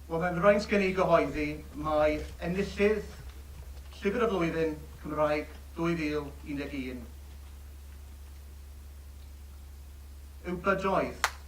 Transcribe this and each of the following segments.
Wel, mae'n fraint gen i gyhoeddi mai enillydd Llyfr y Flwyddyn Cymraeg 2011 yw bydoedd.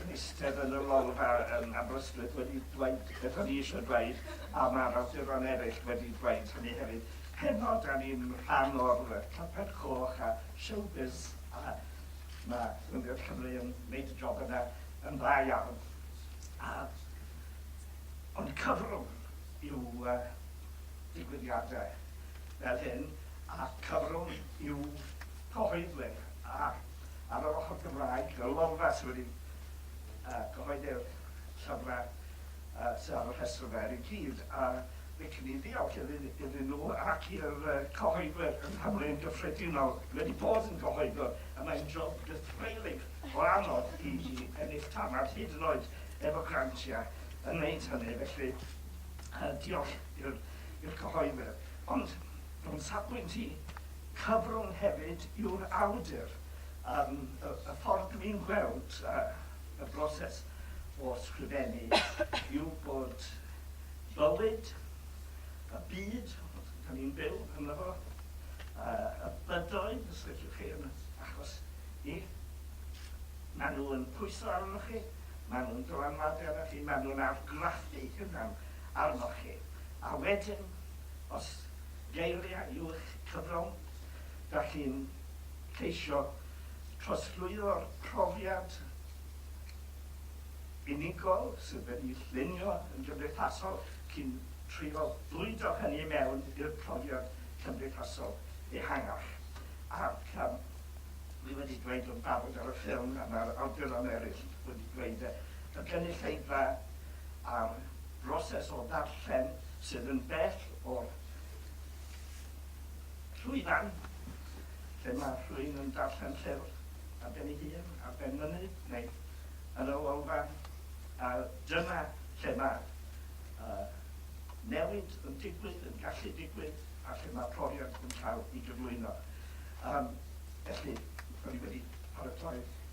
yn eistedd yn y lolfa yn Aberystwyth wedi dweud beth o'n i eisiau dweud a mae'r awduron eraill wedi dweud hynny hefyd. Heno, da ni'n rhan o'r carped coch a showbiz a mae Rhyngrwyd Cymru yn gwneud y job yna yn dda iawn. A ond cyfrwng yw uh, digwyddiadau fel hyn a cyfrwng yw cyhoeddwyr a Ar yr ochr Gymraeg, y Lolfa sydd wedi cyhoeddi'r llyfrau sydd ar y rhestr yma er ei gyd, a licen i ddiolch iddyn nhw ac i'r cyhoeddwyr yng Nghymru yn gyffredinol sydd wedi bod yn gyhoeddwr, a mae'n job gythreulig o anodd i ni ennill tamaid, hyd yn oed efo grantiau, yn wneud hynny. Felly, diolch i'r cyhoeddwyr. Ond, o'n safbwynt i, Cyfrwng hefyd yw'r awdur am y ffordd dw i'n gweld y broses o sgrifennu yw bod bywyd, y byd da ni'n byw ynddo fo, y bydoedd, os liciwch chi, yn achos ni, maen nhw yn pwyso arnoch chi, maen nhw'n dylanwadu arnoch chi, maen nhw'n argraffu hunan arnoch chi, a wedyn, os geiriau i'w'ch cyflawn, dach chi'n ceisio trosglwyddo'r profiad unigol sydd wedi'i llunio yn gymdeithasol, chi'n trio bwydo hynny i mewn i'r profiad cymdeithasol ehangach. Ac yym dwi wedi dweud o'n barod ar y ffilm a ma'r awduron eraill wedi dweud e, y gynulleidfa a'r broses o ddarllen sydd yn bell o'r llwyfan lle mae rhywun yn darllen llyfr ar ben ei hun, ar ben mynydd, neu yn y Lolfa, a dyna lle mae uh, newid yn digwydd, yn gallu digwydd, a lle mae profiad yn cael ei gyflwyno. Um, felly, o'n i wedi paratoi